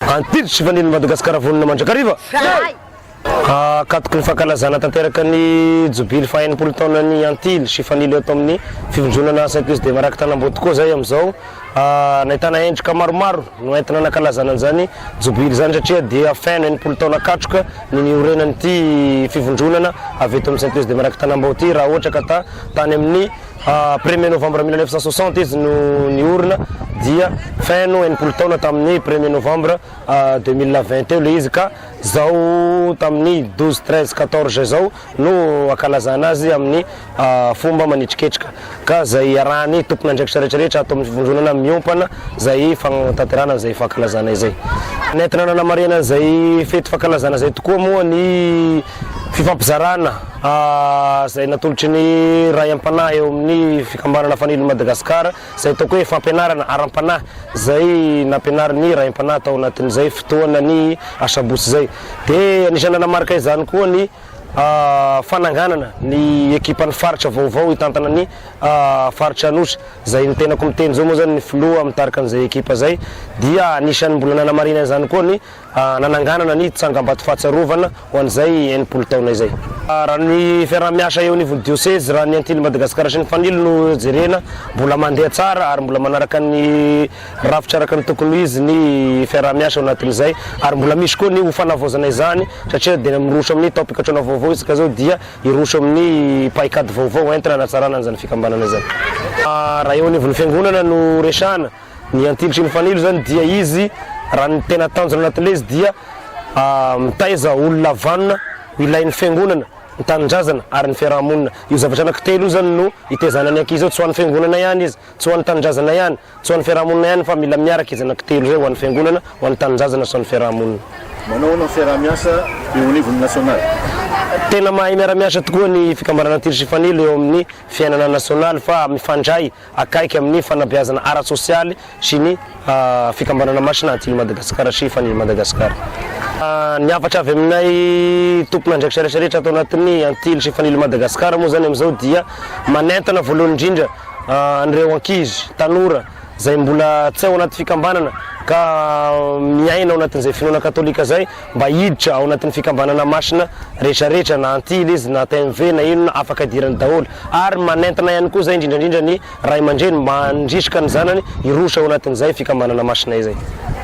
Antitry sy fanilo Madagasikara vonona mandrakariva! Zahay! Hankatoky ny fankalazana tanteraka ny jobily faha enimpolo taona ny Antily sy Fanilo eto amin'ny Fivondronana Saint-Louis de Marac Tanambotoko izay amin'izao nahitana endrika maromaro no entina nankalazana an'izany jobily izany satria dia feno enimpolo taona katroka ny niorenan'ity fivondronana avy eto amin'ny Saint-Louis de Marac Tanambao ity raha ohatra ka tany amin'ny Premier novembre mille neuf cent soixante izy no niorina dia fin no enimpolo taona tamin'ny premier novembre deux mille vingt teo ilay izy ka izao tamin'ny douze treize quatorze izao no ankalazana azy amin'ny fomba manitriketrika ka izay iarahan'ny tompon'andraikitra rehetrarehetra ato amin'ny fivondronana miompana izay fanatanterahana izay fankalazana izay. Nentina nanamarihana izay fety fankalazana izay tokoa moa ny. Fifampizarana izay natolotry ny Ray am-panahy eo amin'ny Fikambanana Fanilo Madagascar izay ataoko hoe fampianarana ara-panahy izay nampianarin'ny Ray am-panahy tao anatin'izay fotoana ny asabotsy izay. Dia anisan'ny nanamarika izany koa ny fananganana ny ekipan'ny faritra vaovao hitantana ny faritra Anosy izay ny tenako miteny izao moa izany ny filoha mitarika an'izay ekipa izay dia anisan'ny mbola nanamarinana izany koa ny nananganana ny tsangambato fahatsiarovana ho an'izay enimpolo taona izay. Raha ny fiaraha-miasa eo anivon'ny dioseze, raha ny Antilles Madagasikara sy ny Fanilo no jerena, mbola mandeha tsara ary mbola manaraka ny rafitra araka ny tokony ho izy ny fiaraha-miasa ao anatin'izay ary mbola misy koa ny ho fanavaozana izany satria dia miroso amin'ny taom-pikatroana vaovao isika izao dia hiroso amin'ny paikady vaovao entina hanatsarana an'izany fikambanana izany. Raha eo anivon'ny fiangonana no resahana, Ny antinitry ny fanilo izany dia izy raha ny tena tanjona anatin'ilay izy dia mitaiza olona vanona ilain'ny fiangonana, ny tanindrazana ary ny fiaraha-monina. Io zavatra anankitelo io izany no itaizana ny ankizy eo, tsy ho an'ny fiangonana ihany izy, tsy ho an'ny tanindrazana ihany, tsy ho an'ny fiaraha-monina ihany fa mila miaraka izy anankitelo izay ho an'ny fiangonana, ho an'ny tanindrazana sy ho an'ny fiaraha-monina. Manao ahoana ny fiaraha-miasa eo anivon'ny nasionaly? Tena mahay miara-miasa tokoa ny fikambanana antinitry ny fanilo eo amin'ny fiainana nasionaly fa mifandray akaiky amin'ny fanabeazana ara-tsosialy sy ny fikambanana masina aty Madagasikara sy efa any Madagasikara. Ny hafatra avy aminay tompon'andraikitra rehetra rehetra ato anatin'ny Antily sy efa any Madagasikara moa izany amin'izao dia manentana voalohany indrindra an'ireo ankizy, tanora, izay mbola tsy ao anaty fikambanana ka miaina ao anatin'izay finoana katolika izay, Mba hiditra ao anatin'ny fikambanana masina rehetra rehetra na antily izy na TMV na inona afaka hidirany daholo ary manentana ihany koa izay indrindra indrindra ny Ray aman-dreny mba handrisika ny zanany hiroso ao anatin'izay fikambanana masina izay.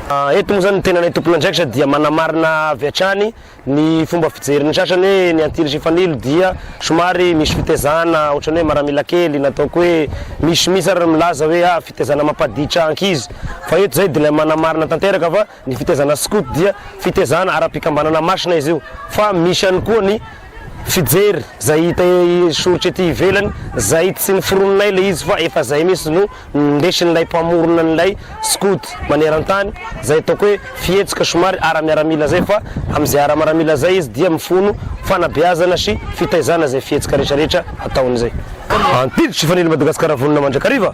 Eto moa izany ny tenanay tompon'andraikitra dia manamarina avy hatrany ny fomba fijerin'ny sasany hoe ny antily sy fanilo dia somary misy fitezana ohatrany hoe maramila kely na ataoko hoe misy mihitsy ary ny milaza hoe ah fitezana mampaditra ankizy fa eto izay dia ilay manamarina tanteraka fa Ny fitaizana skoto dia fitaizana ara-pikambanana masina izy io fa misy ihany koa ny fijery izay hita soritra ety ivelany izay tsy noforoninay ilay izy fa efa izay mihintsy no nindesin'ilay mpamorona an'ilay skoto maneran-tany izay ataoko hoe fihetsoka somary ara-miaramila izay fa amin'izay ara-maramila izay izy dia mifono fanabeazana sy fitaizana izay fihetsoka rehetrarehetra ataon'izay antiditry fanilo Madagasikara vonona mandrakariva.